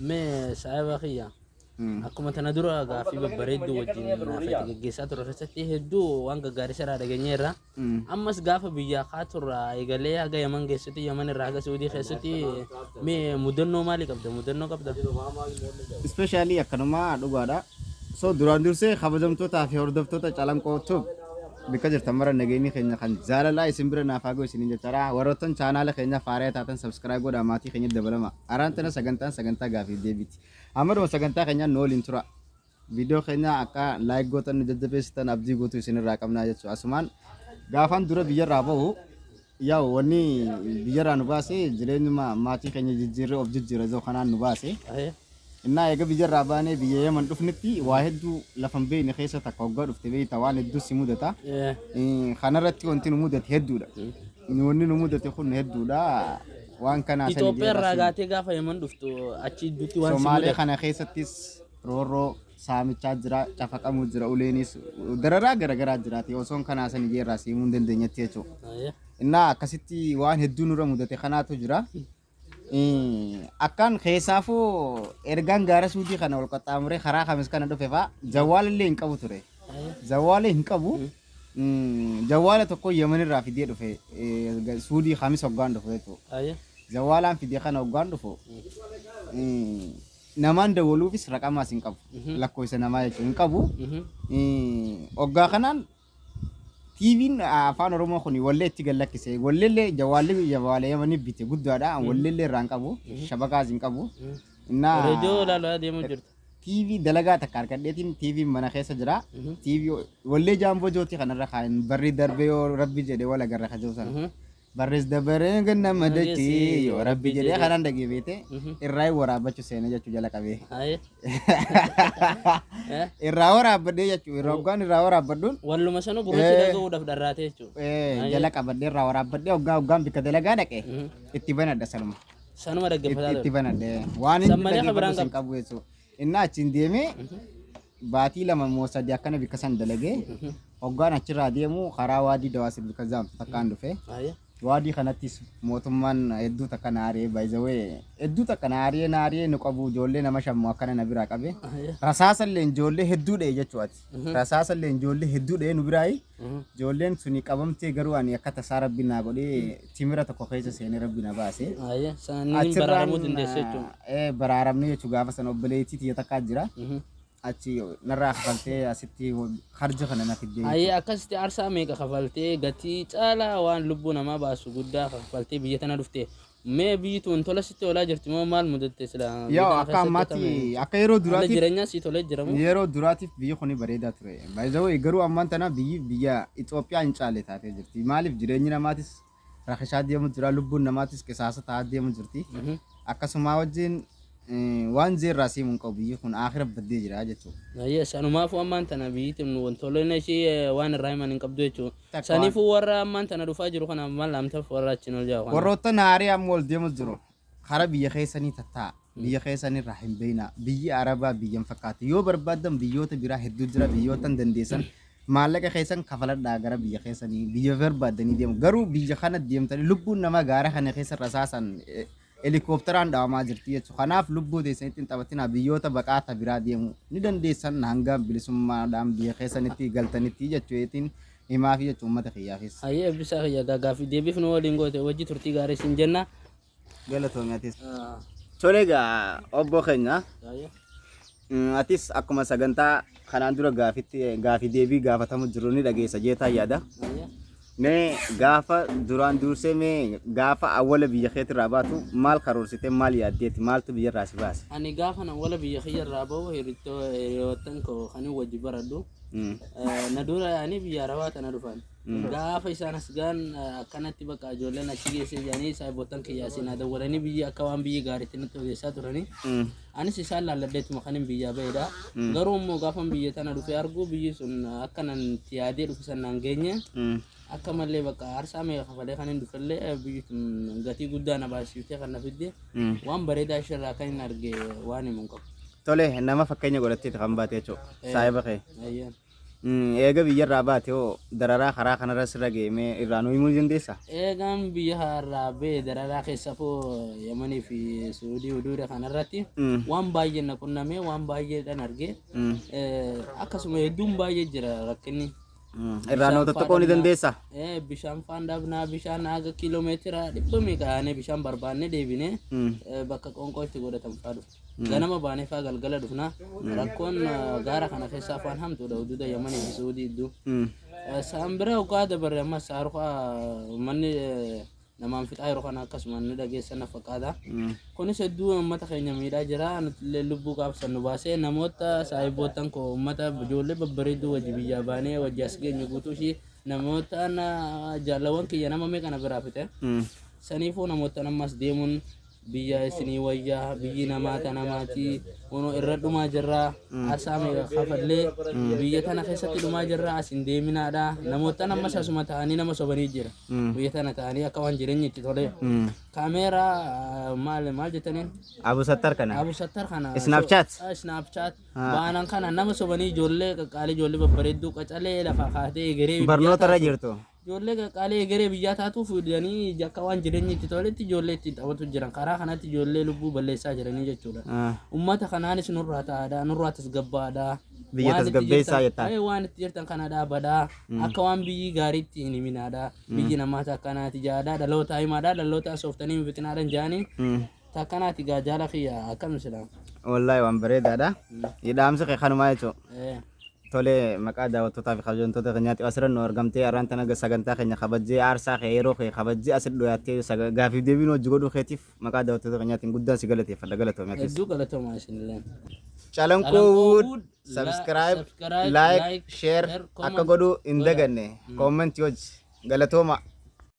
Mee saahiba kiyya akkuma tana dura gaaffii babbareedduu wajjin naafati geggeessaa turre keessatti hedduu waan gaggaarii irraa dhageenyeerra. Ammas gaafa biyyaa kaaturraa eegalee haga Yaman geessutti Yaman irraa haga Suudii keessatti mee mudannoo maalii qabda mudannoo qabda? Ispeeshaalii akkanuma dhugaadha. So duraan dursee kabajamtootaa fi hordoftoota calanqoo tub bakka jirtan mara nageenyi keenya kan jaalalaa isin bira naaf haa ga'u isiniin jechaadha. Warroottan chaanaala keenya faaree taatan sabskiraayib godhaa maatii keenya dabalama. Araan tana sagantaan sagantaa gaafiif deebiiti. Hammaduma sagantaa keenyaan nu waliin tura. Viidiyoo keenya akka laayik gootan nu jajjabeessitan abdii guutuu isinirraa qabnaa jechuudha. Asumaan gaafaan dura biyyarraa bahu yaa wanni biyyarraa nu baase jireenyuma maatii keenya jijjiirree of jijjiirra jedhu kanaan nu baase. Innaa eega biyyarraa baanee biyya Yemen dhufnetti waa hedduu lafa hin beekne keessa takka hoggaa dhufte beekta waan hedduu si mudata. Kanarratti wanti nu mudate hedduudha. Wanni nu mudate kun hedduudha. Waan kanaa sani Itoophiyaa irraa deebasuun gaatee gaafa Yemen dhuftu achi dutti waan si Somaalee mudate. kana keessattis roorroo saamichaa jira, cafaqamuu jira, uleenis dararaa garaagaraa jiraati. Osoon kanaa sani jeerraa siimuu hin dandeenyetti jechuudha. Ayyee. Innaa akkasitti waan hedduu nurra mudate kanaatu jira. Akkan keessaafuu ergaan gaara suudii kana ol qaxxaamuree karaa kamis kana dhufe fa'a jawwaala illee hin qabu ture. Jawwaala hin qabu. Jawwaala tokko Yemen irraa fidee dhufe suudii kamis hoggaan dhufu jechuudha. Jawwaalaan fidee kana hoggaan dhufu namaan dawwaluufis raqamaas hin qabu. Lakkoofsa namaa jechuudha hin qabu. Hoggaa kanaan Tvn afaan oromoo kun wallee itti gad lakkise walleellee jawaalli jawaala yamani bite guddaadha an walleellee irraa hin qabu shabakaas hin qabu innaa Reediyoo ilaalaa deemuu jirta. TV dalagaa takka argadheetiin TV mana keessa jira Mhm. TV wallee jaamboo jooti kanarra kaan barri darbee yoo rabbi jedhe wal agarra ka jiru sana Mhm. barrees dabaree gannama dachii yoo rabbi jedhee kanaan dhagee beete irraa waraabbachu seena jechuu jala qabee irraa waraabbadhee jechuu irraa hoggaan irraa waraabbadhuun walluma sanu gurrachi Eh. dhaga'uudhaaf dharraatee jechuudha. eh, jala qabadhee irraa waraabbadhee hoggaa hoggaan bikka dalagaa dhaqe itti banadha sanuma Sanuma Itti- dhaggeeffataa itti ture. banadhee waan San malee kan biraan hin qabu jechuudha. Innaa achiin deemee baatii lama moo sadii akkana bikka san dalagee hoggaan achirraa deemu karaa waadii dawaasir bikka zaamtu takkaan dhufe. Aye. Waadii kanattis mootummaan hedduu takka na aaree baay'isawee hedduu takka na aaree na aaree nu qabu ijoollee nama shammu akkana na biraa qabe. Aye. Rasaasallee ijoollee hedduu dha'e jechuu ati. Rasaasa illee ijoollee hedduu dha'ee nu biraayi. Ijoolleen suni qabamtee garuu ani akka tasaa rabbi naa godhee timira tokko keessa seenee rabbi na baase. Ayyee saniin Achirraan, baraaramuu dandeessa jechuudha. eh, baraaramne jechuu gaafa sana obboleettii tiyya takkaa jira. Achi narraa kafaltee asitti harja kana na fiddee. Ayyee akkasitti aarsaa meeqa kafaltee gatii caalaa waan lubbuu namaa baasu guddaa kafaltee biyya tana dhufte Mee biyyi tuun tola sitti oolaa jirti moo maal mudatte sila Yaa biyya tana akka keessatti ammaatti akkami akka yeroo haalli duraatiif jireenyaa sii tolee jira moo? yeroo duraatiif biyyi kuni bareedaa ture. By the way garuu ammaan tana biyyi biyya Itoophiyaa hin caalle taatee jirti. Maaliif jireenyi namaatis rakkisaa deemu jira lubbuun namaatis qisaasa ta'aa deemu jirti. Mhm. Akkasumaa wajjin Waan zee irraa siimu hin qabu biyyi kun aakira baddee jira jechuu. Yes sanumaafu ammaan tana biyyi tun wantoolleen ishii waan irraa himan hin qabdu jechuu. Takka waan. Sanifu warra ammaan tana dhufaa jiru kana mal amtaf warra achin ol jahu kana. Warroottan haarii amma ol deemus jiru kara biyya keessanii tatta'a biyya keessan irraa hin beeyna biyyi arabaa biyya hin fakkaatu yoo barbaaddan biyyoota biraa hedduu jira biyyoottan dandeessan maallaqa keessan kafaladhaa gara biyya keessanii biyya barbaaddanii deemu garuu biyya kana deemtanii lubbuun namaa gaara kana keessa rasaasaan eh, Helikoopteraan dhawamaa jirti jechu kanaaf lubbuu teessanitti hin taphatinaa biyyoota baqaa ta biraa deemu ni dandeessan hanga bilisummaadhaan biyya keessanitti galtanitti jechu eetiin himaafi jechu uummata kiyyaafis. Hayyee Eebbisaa kiyya egaa gaaffii deebiif nu waliin goote wajji turtii gaarii siin jenna. Galatoomi atis. Tole egaa obboo keenya Hayyee. Atis akkuma sagantaa kanaan dura gaafitti gaafii deebii gaafatamu jiru ni dhageessa jeetaa yaada. Mee gaafa duraan dursee mee gaafa awwala biyya keetirraa baatu maal karoorsite maal yaaddeeti maaltu biyyarraa si baase? Ani gaafa na wala biyya kiyyarraa bahu hirittoo hiriyoottan koo kan hin wajji baradhu. Mm. Eh, Na dura yaa'anii biyya arabaa tana dhufan. Gaafa isaan as ga'an akkanatti bakka ijoolleen achi geessee jedhanii saayibootan kiyyaa seenaa dawwalanii biyya akka waan biyya gaariitti natti odeessaa turanii. Anis isaan laalladheetuma kan hin biyyaa ba'edha. Garuu immoo gaafan biyya tana dhufee argu biyyi sun akka nan itti yaadee dhufe san naan geenye. Akka malee bakka aarsaa meeqa kafalee kan hin dhufellee biyyi sun gatii guddaa na baasiftee kan na fidde. Waan bareedaa ishirraa kan hin arge waan himu hin qabu. Tole nama fakkeenya godhatteeti kan baate jechuudha. Saayiba kee. Ayyaan. Eega biyyarraa baate hoo dararaa karaa kanarra sirra ga'e mee irraa nu himuu ni dandeessaa? Eegaan biyya irraa ba'e dararaa keessafuu Yamanii fi Suudii huduuda kanarratti waan baay'een na qunnamee waan baay'eedhaan argee akkasuma hedduun baay'ee jira rakkinni. Irraa nu tokko ni dandeessaa? Bishaan faan dhabnaa bishaan haga kiiloomeetira dhibba meeqa yaanee bishaan barbaannee deebinee bakka qoonqoo itti godhatan faa dhufu. Ganama baanefaa galgala dhufna. Rakkoon eh, gaara kana keessaa afaan hamtuudha huduuda Yamanii fi Suudii iddoo. Mm. Eh, Sa'aan biraa dhugaa dabarre ammas saarukaa uummanni eh, namaan fixaa yeroo kana akkasuma ni dhageessan na fakkaata. Mm. Kunis hedduu uummata keenya miidhaa jira. Nutillee lubbuu qaabsan nu baasee namoota saahiboottan koo uummata ijoollee babbareedduu wajji biyyaa baanee wajji as geenye guutuu ishii namoota na- jaalawwan kiyya nama meeqa na biraa fite. Mm. Saniifuu namoota ammas deemuun biyyaa isinii wayyaa biyyi namaa ta namaatii ono irra dhumaa jirraa arsaa meeqa kafallee biyya tana keessatti dhumaa jirraa as hin deeminaadha namoottan ammas asuma ta'anii nama sobanii jira biyya tana ta'anii akka waan jireenyi itti tolee kaameeraa ah, maal maal jettaniin Abu Sattar kana. Abu Sattar kana Snapchat? so- ah, Snapchat Ah. baanan kana nama sobanii ijoollee qaqqaalii ijoollee babbareedduu qacalee lafaa kaatee egeree biyya Barnoota irra tana- jirtu. Ijoollee qaqqaalii egeree biyyaa taatuuf jedhanii akka waan jireenyi itti toletti ijoollee ittiin taphatu jiran. Karaa kanatti ijoollee lubbuu balleessaa jiranii jechuudha. Ah. Uummata kanaanis nurraa ta'aadha, nurraa tasgabbaa'aadha. Biyya Waan itti tasgabbeessaa jirtan- jettaan. Ee, waan itti jirtan kana dhaabadha. Akka waan biyyi gaariitti hin himinaadha. Biyyi namaa takkanaati jaadha. Dhalootaa himaadha. Dhalootaa sooftanii hin fixinaadha hin jaanii. Mm. Takkanaati gaa jaala kiyya akkam sila. Wallahi waan bareedaadha. Dhaamsi kee kanumaa jechuudha. Eh, Tolee maqaa daawwattootaa fi kabajamtoota keenyaatti asirra nu argamtee har'aan tana sagantaa keenya kabajjee aarsaa kee yeroo kee kabajjee asitti dhiyaattee saga- gaafiif deebiin hojii godhuu keetiif maqaa daawwattoota keenyaatiin guddaan si galateeffadha galatoomi atis. Hedduu galatoomaa isinillee. Calankoo Wood Wood, subscribe, subscribe, like, like, share share, comment, akka godhuu hin godhaa. daganne. Comment hojii galatooma.